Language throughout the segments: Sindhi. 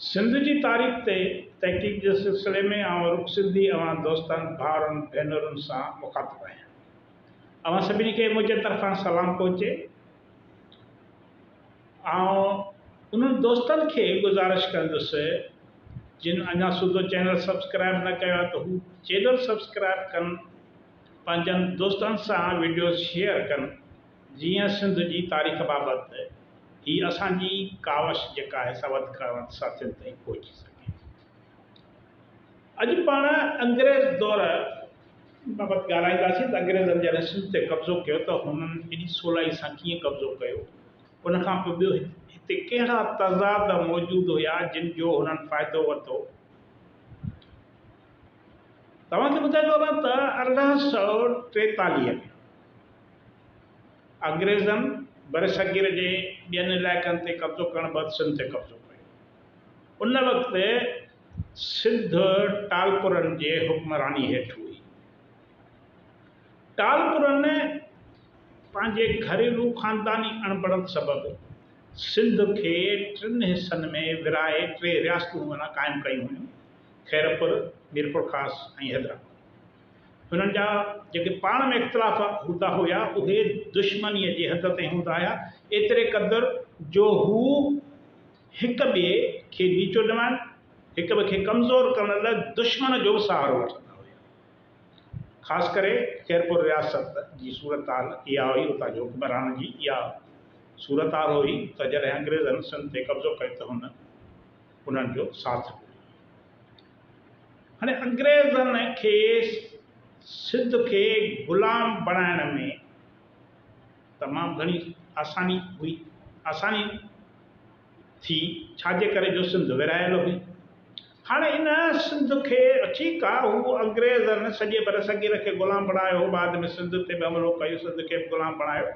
سنڌ جي تاريخ تي تحقيق جي سلسلي ۾ آئون رڳ سنڌي اوهان دوستن، ڀائرن، ڀينرن سان مخاطب آهيان. اوهان سڀني کي منهنجي طرفان سلام پهچي. آئون انهن دوستن کي گذارش ڪندس جن اڃا سوڌو چينل سبسڪرائيب نه ڪيو آهي ته هو چينل سبسڪرائيب ڪن، پنهنجن دوستن سان وڊيوز شيئر ڪن. جيئن سنڌ جي تاريخ بابت هي اسان جي ڪاوش جيڪا آهي سا وڌ کان وڌ ساٿين تائين پهچي سگهي. اڄ پاڻ انگريز دور بابت ڳالهائينداسين ته انگريزن جڏهن سنڌ تي قبضو ڪيو ته هنن ايڏي سولائي سان ڪيئن قبضو ڪيو، ان کان پوء ٻيو هتي ڪهڙا تضاد موجود هيا جن جو هنن فائدو ورتو. توهان کي ٻڌائيندو هلان ته ارڙهن سؤ ٽيتاليهه ۾. انگريزن برصغير جي ٻين علائقن تي قبضو ڪرڻ بعد سنڌ تي قبضو ڪيو. ان وقت سنڌ ٽالپرن جي حڪمراني هيٺ هئي. ٽالپرن پنهنجي گهريلو خانداني اڻبڻت سبب سنڌ کي ٽن حصن ۾ ورهائي ٽي رياستون قائم ڪيون هيون، خيرپور، ميرپورخاص ۽ حيدرآباد. هنن جا جيڪي پاڻ ۾ اختلاف هوندا هيا، اهي دشمنيء جي حد تائين هوندا هيا، ايتري قدر جو هو هڪ ٻئي کي نيچو ڄمائڻ، هڪ ٻئي کي ڪمزور ڪرڻ لاء دشمن جو به سهارو وٺندا هيا. خاص ڪري خيرپور رياست جي صورتحال اها هئي، اتان جي حڪمرانن جي اها صورتحال هئي ته جڏهن انگريزن سنڌ تي قبضو ڪيو ته هن انهن جو ساٿ ڏنو. هاڻي انگريزن کي سنڌ کي غلام بڻائڻ ۾ تمام گهڻي آساني هئي آساني ٿي ڇا جي ڪري جو سنڌ ورهايل هئي هاڻي ان سنڌ کي ٺيڪ آ هو انگريزن سڄي برصغير کي غلام بڻايو بعد ۾ سنڌ تي به حملو ڪيو سنڌ کي به غلام بڻايو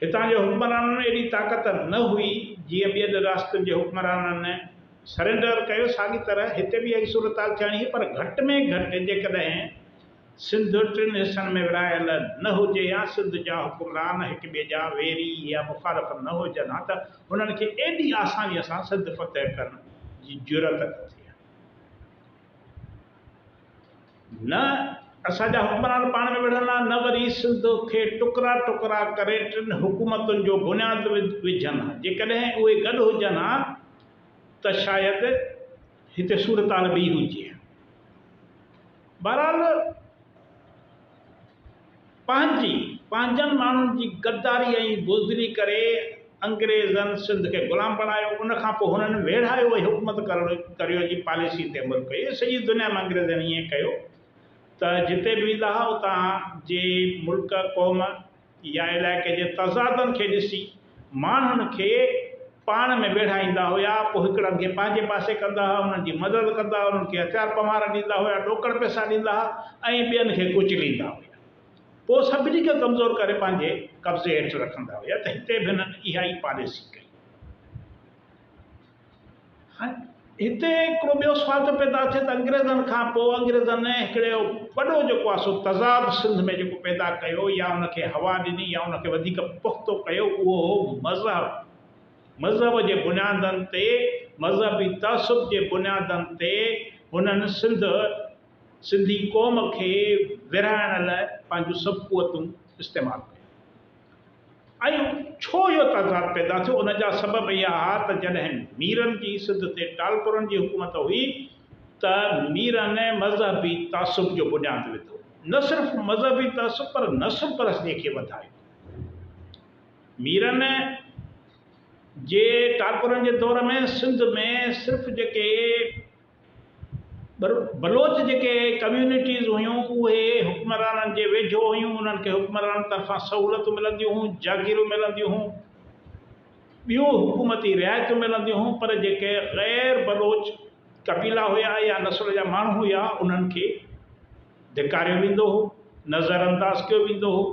هتان جي حڪمرانن ۾ ايڏي طاقت نه هئي، جيئن ٻين رياستن جي حڪمرانن سرينڊر ڪيو، ساڳي طرح هتي به اهائي صورتحال ٿيڻي هئي، پر گهٽ ۾ گهٽ جيڪڏهن سنڌ ٽن حصن ۾ ورهايل نه هجي يا سنڌ جا حڪمران هڪ ٻئي جا ويري يا مخالف نه هجن ها ته هنن کي ايڏي آسانيء سان سنڌ فتح ڪرڻ جي جرئت نه ٿئي ها. نه اسان جا حڪمران پاڻ ۾ وڙهن ها، نه وري سنڌ کي ٽڪرا ٽڪرا ڪري ٽن حڪومتن جو بنياد وجهن ها. جيڪڏهن اهي گڏ هجن ها ته شايد هتي صورتحال ٻي هجي ها. بهرحال! پنهنجي پنهنجن ماڻهن جي غداري ۽ بزدلي ڪري انگريزن سنڌ کي غلام بڻايو ان کان پوء هنن ويڙهايو ۽ حڪومت ڪرڻ ڪريو جي پاليسي تي عمل ڪيو سڄي دنيا ۾ انگريزن ائين ڪيو ته جتي به ويندا هئا اتان جي ملڪ قوم يا علائقي جي تضادن کي ڏسي ماڻهن کي پاڻ ۾ ويڙهائيندا هيا، پوء هڪڙن کي پنهنجي پاسي ڪندا هئا، انهن جي مدد ڪندا هئا، انهن کي هٿيار پمهار ڏيندا هيا، ڏوڪڙ پئسا ڏيندا هئا ۽ ٻين کي ڪچليندا هيا. پوء سڀني کي ڪمزور ڪري پنهنجي قبضي هيٺ رکندا هيا ته هتي به هنن اها ئي پاليسي ڪئي. هتي هڪڙو ٻيو سوال ٿو پيدا ٿئي ته انگريزن کان پوء انگريزن هڪڙو وڏو جيڪو آهي سو تضاد سنڌ ۾ جيڪو پيدا ڪيو يا ان کي هوا ڏني يا ان کي وڌيڪ پختو ڪيو اهو هو مذهب مذهب جي بنيادن تي مذهبي تعصب جي بنيادن تي هنن سنڌ سنڌي قوم کي ورهائڻ لاء پنهنجون سڀ قوتون استعمال ڪيون. ۽ ڇو اهو تضاد پيدا ٿيو ان جا سبب اها ها ته جڏهن ميرن جي سنڌ تي ٽالپرن جي حڪومت هئي ته ميرن مذهبي تعصب جو بنياد وڌو نه صرف مذهبي تعصب پر نسل پرستيء کي وڌايو ميرن جي ٽالپرن جي دور ۾ سنڌ ۾ صرف جيڪي پر بلوچ جيڪي ڪميونٽيز هيون اهي حڪمرانن جي ويجهو هيون انهن کي حڪمرانن طرفان سهولتون ملنديون هيون جاگيرون ملنديون هيون ٻيون حڪومتي رعايتون ملنديون هيون پر جيڪي غير بلوچ قبيلا هيا يا نسل جا ماڻهو هيا انهن کي ڌڪاريو ويندو هو نظر انداز ڪيو ويندو هو.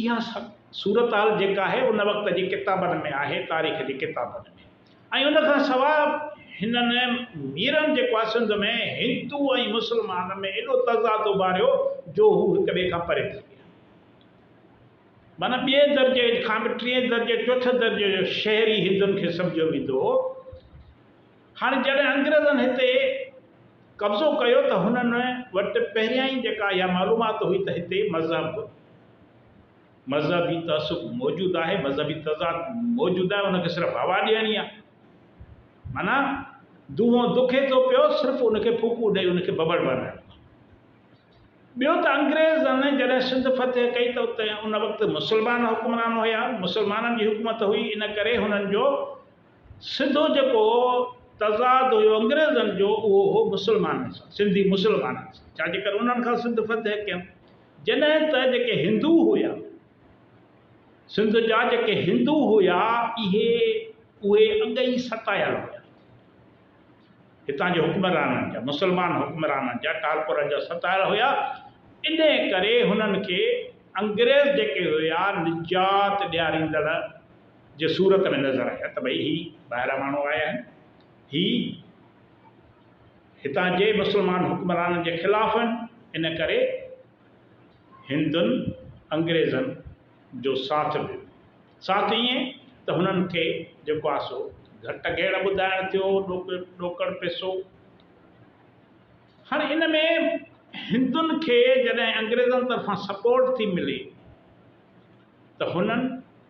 اها صورتحال جيڪا آهي ان وقت جي ڪتابن ۾ آهي، تاريخ جي ڪتابن ۾. ۽ ان کان سواء هنن ميرن جيڪو آهي سنڌ ۾ هندو ۽ مسلمان ۾ ايڏو تضاد اڀاريو جو هو هڪ ٻئي کان پري ٿي ويا. معنيٰ ٻئي درجي کان به ٽئين درجي چوٿين درجي جو شهري هندن کي سمجهيو ويندو هو. هاڻي جڏهن انگريزن هتي قبضو ڪيو ته هنن وٽ پهريائين جيڪا اها معلومات هئي ته هتي مذهب، مذهبي تعصب موجود آهي، مذهبي تضاد موجود آهي، ان کي صرف هوا ڏيڻي آهي. معنيٰ دونهون دکي ٿو پيو، صرف ان کي ڦوڪون ڏئي ان کي ڀڀڙ بڻائڻو آهي. ٻيو ته انگريزن جڏهن سنڌ فتح ڪئي ته اتي ان وقت مسلمان حڪمران هيا، مسلمانن جي حڪومت هئي، ان ڪري هنن جو. سڌو جيڪو تضاد هيو انگريزن جو اهو هو مسلمانن سان، سنڌي مسلمانن سان، ڇا جي ڪري انهن کان سنڌ فتح ڪيم، جڏهن ته جيڪي هندو هيا، سنڌ جا جيڪي هندو هيا اهي اهي اڳ ئي ستايل هيا، هتان جي حڪمرانن جا، مسلمان حڪمرانن جا، ٽالپرن جا ستايل هيا، انهي ڪري هنن کي انگريز جيڪي هيا نجات ڏياريندڙ، جي صورت ۾ نظر آيا ته ڀئي هي ٻاهران ماڻهو آيا آهن، هي هتان جي مسلمان حڪمرانن جي خلاف آهن، ان ڪري هندن انگريزن جو ساٿ ڏنو، ساٿ ائين ته هنن کي جيڪو آهي سو گهٽ گهيڙ ٻڌائڻ ٿيو، ڏوڪڙ پيسو. هاڻي ان ۾ هندن کي جڏهن انگريزن طرفان سپورٽ ٿي ملي ته هنن.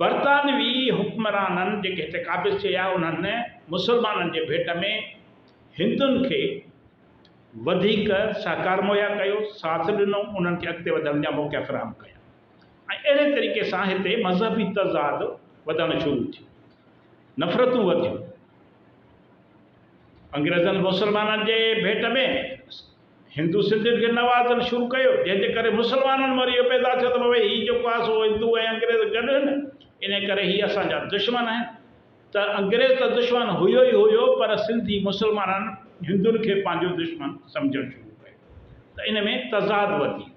برطانوي حڪمرانن جيڪي هتي قابض ٿي ويا انهن مسلمانن جي ڀيٽ ۾ هندن کي وڌيڪ سهڪار مهيا ڪيو، ساٿ ڏنو، انهن کي اڳتي وڌڻ جا موقعا فراهم ڪيا ۽ اهڙي طريقي سان هتي مذهبي تضاد وڌڻ شروع ٿيو، نفرتون وڌيون. انگريزن مسلمانن جي ڀيٽ ۾. هندو سنڌين کي نوازڻ شروع ڪيو جنهن جي ڪري مسلمانن ۾ وري اهو پيدا ٿيو ته بابا هي جيڪو آهي سو هندو ۽ انگريز گڏ آهن انهي ڪري هي اسان جا دشمن آهن ته انگريز ته دشمن هيو ئي هيو پر سنڌي مسلمانن هندن کي پنهنجو دشمن سمجهڻ شروع ڪيو ته ان ۾ تضاد وڌي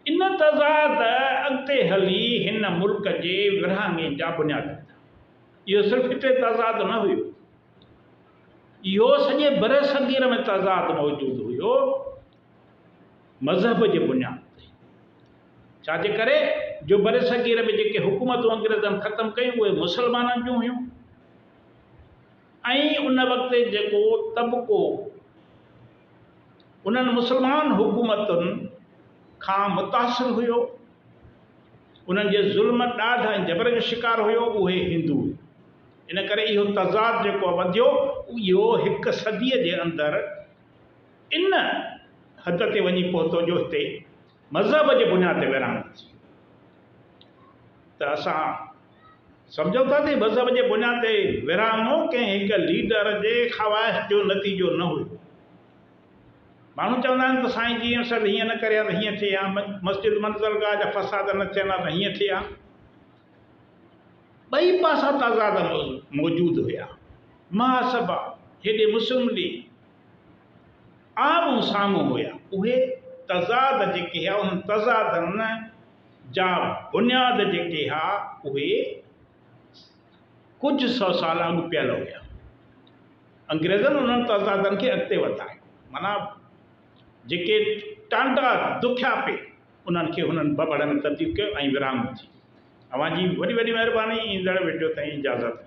ويو ان تضاد اڳتي هلي هن ملڪ جي ورهاڱي جا بنياد وڌا اهو صرف هتي تضاد نه هيو اهو سڄي برصغير ۾ تضاد موجود هيو مذهب جي بنياد تي ڇا جي ڪري جو برصغير ۾ جيڪي حڪومتون انگريزن ختم ڪيون اهي مسلمانن جون هيون ۽ ان وقت جيڪو طبقو انهن مسلمان حڪومتن کان متاثر هيو انهن جي ظلم ڏاڍ ۽ جبر جو شڪار هيو اهي هندو ان ڪري اهو تضاد جيڪو وڌيو اهو هڪ صديء جي اندر ان حد تي وڃي پهتو جو هتي مذهب جي بنياد تي ورهاڱي ٿي ته اسان سمجهون ٿا ته مذهب جي بنياد تي ورهاڱو ڪنهن هڪ ليڊر جي خواهش جو نتيجو نه هيو ماڻهو چوندا آهن ته سائين جي اسد هيئن نه ڪري ها ته هيئن ٿئي ها مسجد منزلگاهه جا فساد نه ٿين ها ته هيئن ٿئي ها ٻئي پاسا تضاد موجود هيا. محاسبا جيڏي مسلم ليگ آمهون سامهون هيا، اهي تضاد جيڪي هيا، انهن تضادن جا بنياد جيڪي هيا، اهي ڪجهه سئو سال اڳ پيل هيا. انگريزن انهن تضادن کي اڳتي وڌايو. معنيٰ جيڪي ٽانڊا دکيا پئي، انهن کي هنن ببڙ ۾ تبديل ڪيو ۽ ورهاڱو ٿي ويو. اوهان جي وڏي وڏي مهرباني ايندڙ وڊيو تائين اجازت ڏيندا.